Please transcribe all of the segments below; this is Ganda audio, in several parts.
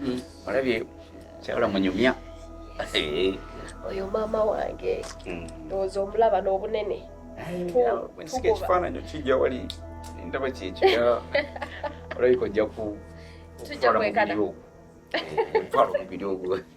Mm. Olabye kyawula munyumya. Oyo maama wange mm. ndowooza omulaba n'obunene. Nsika ekifaananyi kijja wali ndaba kyekyo olabika ojja ku tujja kwekana. Twala omubiri ogwo.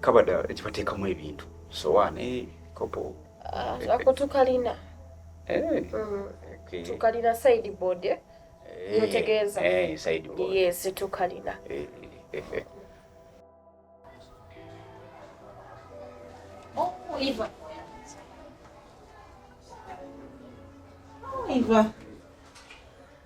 kabada ekibateekamu ebintu sowaani eh, kopo ah, ako tukalina eh. mm, tukalina side board eh? notegeeza yes tukalina oh, Iva. Oh, Iva.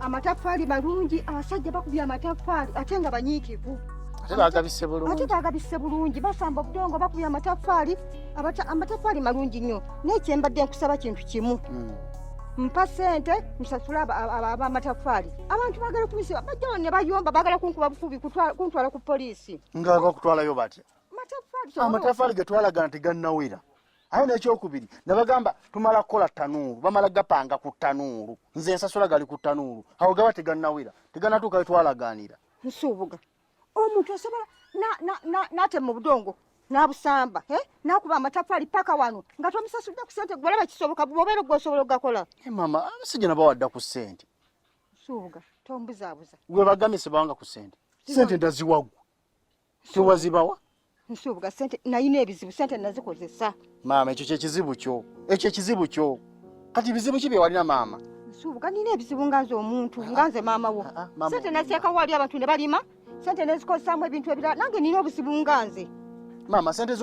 amataffaali malungi abasajja bakubye amataffaali ate nga banyiikivu ate bagabise bulungi ate bagabise bulungi basamba obudongo bakubye amataffaali amataffaali malungi nnyo naye kyembadde nkusaba kintu kimu hmm. mpa sente nsasule abamataffaali abantu bagala kumisi bajjawo ne bayomba bagala kunkuba bukubi kuntwala ku poliisi nga bakutwalayo batya amataffaali getwalaga nti gannawera aye nekyokubiri nebagamba tumala kukola tanuulu bamala gapanga ku tanuulu nze ensasula gali ku tanuulu awo gaba teganawera teganatuuka wetwalaganira nsuubuga omuntu osobola natema obudongo nabusamba eh? nakuba amatafali paka wano nga tomusasudde ku sente gwalaba kisoboka bwobeera gwosobola okugakola eh, mama abasajja nabawadda ku sente nsuubuga tombuzabuza gwe bagamye sebawanga ku sente sente ndaziwagwa tewazibawa nsuubuga sente nayina ebizibu sente nazikozesa maama ekyo kyekizibu kyo ekyo ekizibu kyo kati bizibu ki byewalina maama nsuubuga nina ebizibu nga nze omuntu ah, nga nze maama wo ah, ah, sente naseekawo wali abantu ne balima sente nezikozesaamu ebintu ebirala nange nina obuzibu nga nze maama sente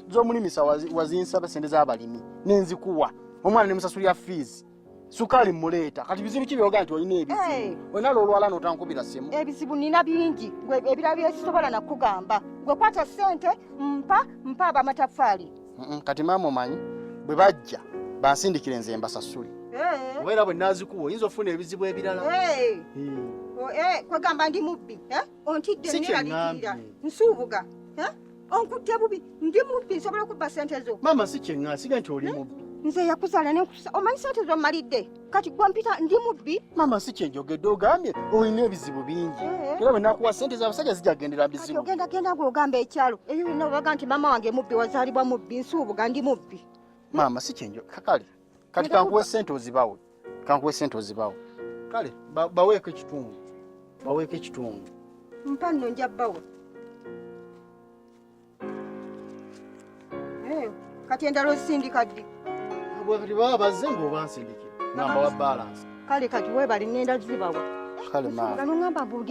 zomulimisa wazinsaba sente zabalimi nenzikuwa omwana nemusasulira fiizi sukaali muleeta kati bizibu ki byoga nti olina ebizibu wenala olwala notankubira simu ebizibu nina bingi gwe ebira byesisobola nakugamba gwe kwata sente mpa mpa abamataffaali kati maama omanyi bwe bajja bansindikire nze mbasasule oba era bwe nazikuwa oyinza ofuna ebizibu ebirala kwegamba ndi mubbi ontidde neralikirira nsuubuga onkutte bubi ndi mubbi nsobola okubba sente zo maama si kyeŋŋa siga nti oli mubbi nze yakuzaala nenkusa omanyi sente zo mmalidde kati gwa mpita ndi mubbi maama si kyenjogedde ogambye olina ebizibu bingi eh. era bwe nakuwa sente z'abasajja zijja kugendera bizibu ogenda genda gwe ogamba ekyalo eyo yonna obaga nti maama wange mubbi wazaalibwa mubbi nsuubuga ndi mubbi maama si kyenjo kakale kati kankuwe sente ozibawe kankuwe sente ozibawe kale baweeko ekitundu baweeko ekitundu mpa nno nja bawa eh, kati endala osindika ddi bwebati baba bazze ngaobansindikira namba wa balansi kale kati webali ngenda zibawa kale maama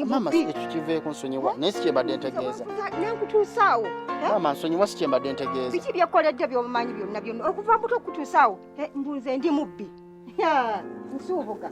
maama tukiveeko nsonyiwa naye si kyembadde ntegeeza nenkutuusaawo eh? maama nsonyiwa si kyembadde ntegeeza biki byekkoledde byomumanyi byonna byonna okuva muto okutuusaawo eh, mbunze ndi mubbi nsuubuga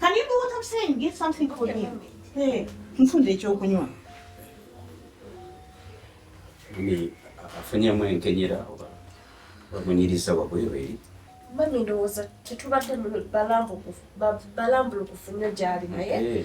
Can you do what I'm saying? Get something for him. Hey, mfunde ekyokunywa. Mami, afunyemu enkenyera oba bamunyiriza wabwereere. Mami ndowooza tetubadde balambulukufu nnyo gy'ali naye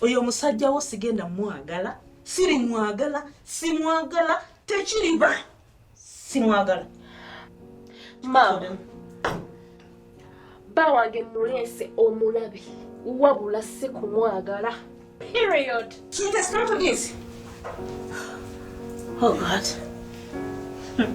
oyo musajja wo sigenda mwagala siri mwagala simwagala tekiriba simwagala maama bba wange muleese omulabi wabula si kumwagala period oh god hmm.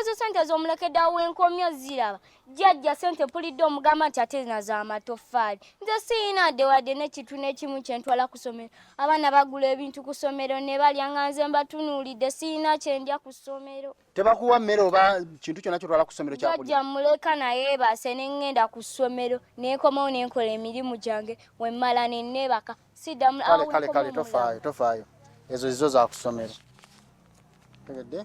ezo sente z'omulekedde awo enkomyo ziraba jjajja sente mpulidde omugamba nti ate zina za matoffaali nze siyina adde wadde n'ekintu n'ekimu kye ntwala ku ssomero abaana bagula ebintu ku ssomero ne balya nga nze mbatunuulidde siyina kye ndya ku ssomero tebakuwa mmere oba kintu kyonna kyotwala ku ssomero kyajja muleka naye baase ne ŋŋenda ku ssomero nenkomawo ne nkola emirimu gyange wemmala ne nneebaka siddamu kale kale kale tofaayo tofaayo ezo zizo za kusomero tegedde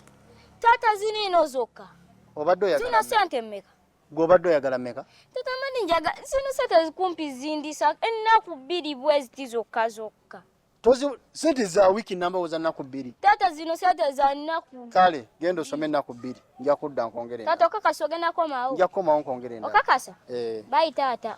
taata ziniino zokka obadde oyagala zino sente mmeka gwe obadde oyagala mmeka taata mani njaga zino sente zikumpi zindisa ennaku bbiri bweziti zokka zokka tozi sente za wiki namba oza naku bbiri tata zino sente za naku kale genda osome naku bbiri nja kudda nkongere tata okakasa ogenda komawo nja kukomawo nkongere okakasa eh. bayi tata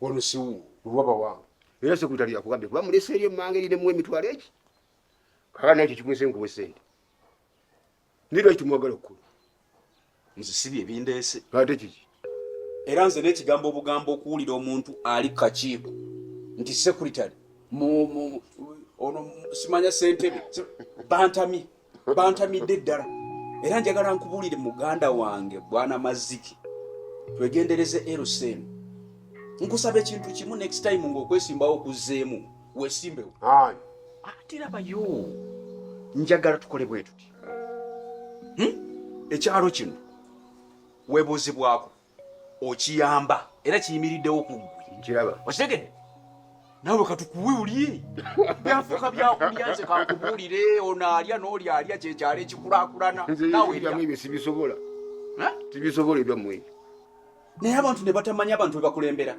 wano siwu luwaba wange era sekutali yakugambye kuba mulese eri emmanga eri nemu emitwalo eki kaka naye kyekikwese nkuwa esente nirwa kitumwagala okukulu nzisibi ebindeese ate kiki era nze n'ekigambo obugambo okuwulira omuntu ali kakiiko nti sekuritale ono simanya sentebe bantamye bantamidde ddala era njagala nkubuulire muganda wange bwana maziki twegendereze lsm nkusaba ekintu kimu next time ngaokwesimbawo okuzzeemu wesimbewo atirabayo njagala tukole bwetuti hmm? ekyalo kino webuuzibwako okiyamba era kiyimiriddewo ku ggwe okitegedde nawe katukuwe ulye byafuka byakulya nze kakubuulire ono alya n'oli alya kyekyalo ekikulakulana naweebyo sibisobola tibisobola ebyammwe naye abantu ne batamanya abantu bebakulembera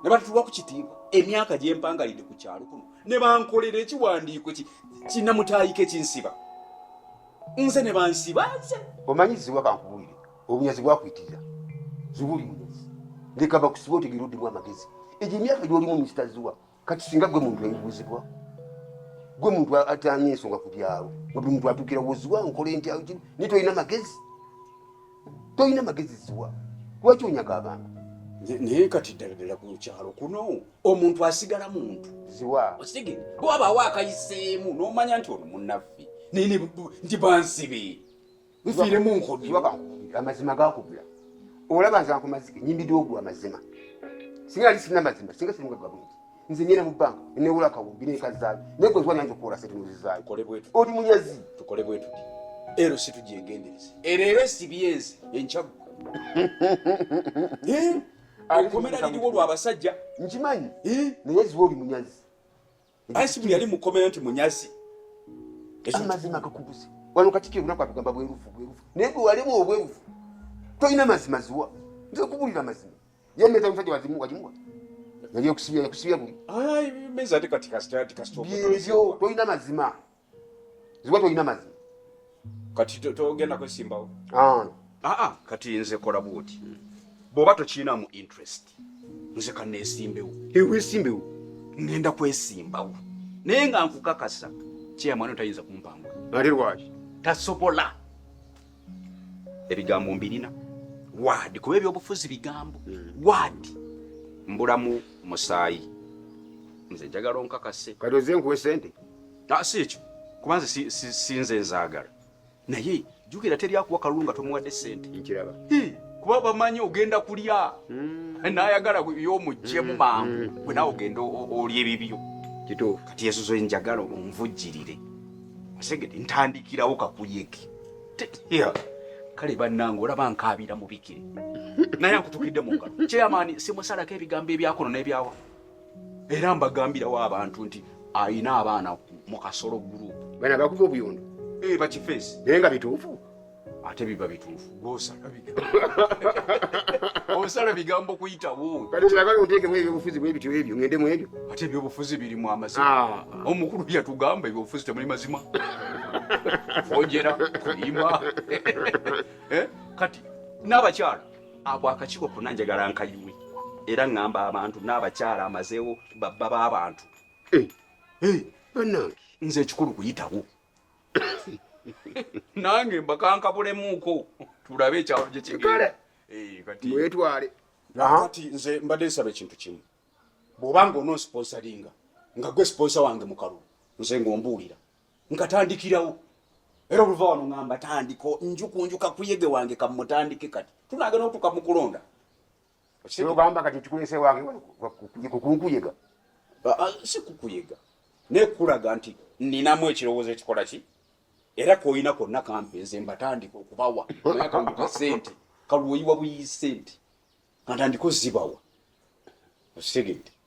ne batutuwa ku kitiibwa emyaka gyempangalidde ku kyalo kuno ne bankolera ekiwandiiko kinamutaayiko ekinsiba nze ne bansiba nze omanyi ziwa kankubuulire obunyazi bwakuyitirira ziwuli munyazi leka bakusibe otegera oddimu amagezi egyo emyaka gyolimu mukitaziwa kati singa gwe muntu ebibuuzibwa gwe muntu atanya ensonga ku byalo nga buli muntu atukira woziwa nkola enti naye tolina magezi tolina magezi ziwa lwaki onyaga abantu naye kati ddala ddala ku kyalo kuno omuntu asigala muntu ziwa okitege bwabaawo akayiseemu n'omanya nti ono munnaffe naye nti bansibe nfiire mu nkodi waba amazima gakubula olaba nze akumazike nyimbidwa ogwa amazima singa ali sina mazima singa siringa gabungi nze nyina mu banka newula kawumbi nekazaayo naye gwe zwanyanza okuwola sente nozizaayo oli munyazi tukole bwetuti ero situgyengendereza ereero esibyenzi enkyaggu eh? akomera liriwo lwabasajja nkimanyi eh? naye ziwa oli munyazi ansi buli yali mukomera nti munyazi amazima gakubuze wano kati kyelunaku atugamba bwerufu bwerufu naye gwe walimu obwerufu tolina mazima ziwa nze kubulira mazima yameza omusajja wazimu wajimuwa yali okusibya yakusibya buli byebyo tolina mazima ziba tolina mazima kati togenda kwesimbawo aa ah, ah, kati nze kola bwoti bwoba tokiinamu interest nze kaneesimbewo ewesimbewo ngenda kwesimbawo naye nga nkukakasa kyeyamwana tayinza kumpangula ate lwaki tasobola ebigambo mbirina waadi kuba ebyobufuzi bigambo hmm. waadi mbulamu musaayi nze njagala onkakase kati oze nkuwa esente ah, si ekyo kuba nze sinze nzaagala naye jukira teri akuwa kalulu nga tomuwadde sente nkiraba kuba bamanyi ogenda kulya hmm. nayagala yomugjemu hmm. mangu gwe nawe ogenda olya ebibyo kituufu kati yesuzo njagala onvujjirire Segede ntandikirawo kakuyeke. Yeah. Kale bannange olaba nkaabira mubikire naye akutukidde mu ngalo kyeyamaani simusalako ebigambo ebyakono n'ebyawa era mbagambirawo abantu nti alina abaana mu kasolo gurupu bana bakuba obuyondo eh, bakifeesi naye nga bituufu ate biba bituufu gwosala bigambo osala bigambo kuyitawo kati kyagala oteekemu ebyobufuzi bwebityo ebyo ngende mu ebyo ate ebyobufuzi birimu amazima ah. omukulu yatugamba ebyobufuzi temuli mazima ojera kulima eh? kati n'abakyala abo akakiiko kona njagala nkayiwe era ŋŋamba abantu n'abakyala amazeewo babba b'abantu eh. eh. banange nze ekikulu kuyitawo nange mbakankabulemuuko tulabe ekyalo gye kigale eh, kati mwetwale kati nze mbadde nsaba ekintu kimu bw'oba nga ononsponsalinga nga gwe sponsa wange mukalu nze ng'ombuulira nkatandikirawo era oluva wano ngamba tandiko njukunjuka kuyege wange kamutandike kati tunagenda otuka mukulonda kyogamba kati kikulese wange kukunkuyega ah, si kukuyega naye kukulaga nti ninamu ekirowoozo ekikola ki era koyina konna kampe nze mbatandika okubawa naye kanduka sente kalwoyiwa buyi sente kantandika ozibawa okitegedde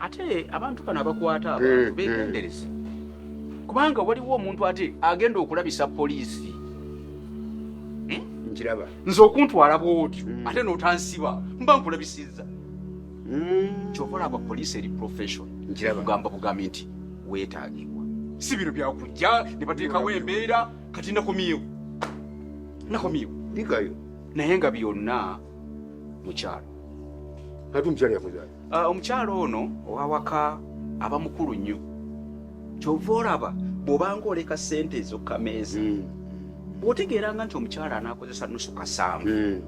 ate abantu bano abakwata abantu eh, eh. begendereze kubanga waliwo omuntu ate agenda okulabisa poliisi hmm? nkiraba nze okuntwala bwotyo hmm. ate notansiba mba nkulabisiza hmm. kyova olaba poliisi eri profession kugamba bugambi nti wetagibwa si bino byakujja ne bateekawo embeera kati nakomyewo nakomyewo naye nga byonna mukyalo ate omukyalo yakozayo Ah, omukyala ono owawaka aba mukulu nnyo kyova olaba bwobanga oleka sente ezokukameeza hmm. otegeeranga nti omukyala anakozesa nusu kasaamu hmm.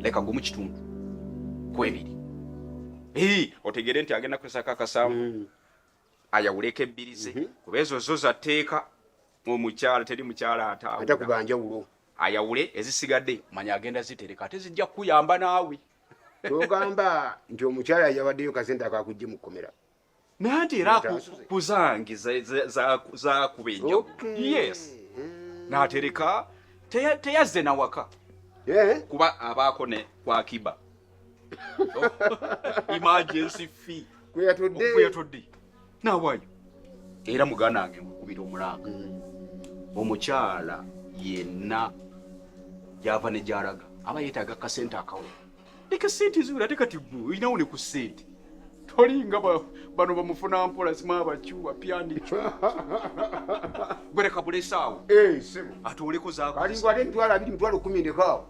leka gumu kitundu kwebiri otegere nti agenda kukozesako akasaamu hmm. ayawuleko ebbiri ze mhm. kuba ezo zo zatteeka omukyala teri mukyala ataata kubanjawulo ayawule ezisigadde manya agenda zitereka ate zijja kukuyamba naawe togamba nti omukyala yawaddeyo kasente akakujje mu kkomera nanti era kuzange zakuba enjawo yes hmm. natereka teyazze nawaka eh? kuba abaako ne kwakiba emergency fee kweyatodde nawayo era muganda wange nkukubira omulanga mm. omukyala yenna gyava ne gyalaga aba yeetaaga kasente akawo leka sente eziwera ate kati gwe olinawo ne ku sente tolinga bano bamufuna mpola zimabacu bapyandico gwereka bulesaawo eh, atooleko zakoalinga ate emitwalo abiri mitwalo kumi ndekaawo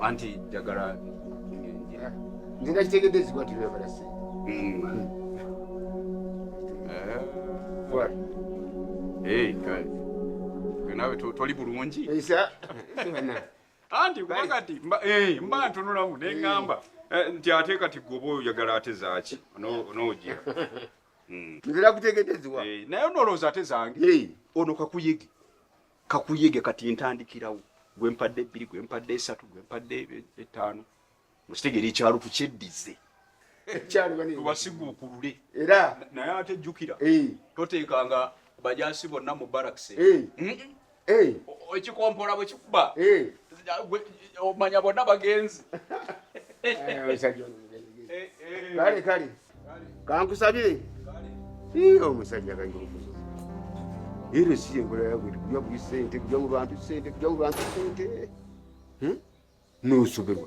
anti njagala nze nakitegedde ezigwa nti lwebala sente nawe toli bulungi anti kati eh, mba ntunulamu neŋamba eh. eh, nti ate kati goba oyagala ate zaki onoojira hmm. nzira kutegedeziwa naye onolowooza ate zange ono kakuyege kakuyege kati ntandikirawo gwe mpadde ebbiri gwe mpadde esatu gwe mpadde etaano mukitegeera ekyalo tukyeddize tubasiguukulule era naye ate jjukira eh. toteekanga bajasi bonna mu barakisi eh. eh. ekikompola bwe kikuba omanya bonna bagenzi kale kale kankusabire iyo omusajja kayingukuzo ero si enkola yagwe kuja buli sente kuja mu bantu sente kuja mu bantu sente hmm? nosoberwa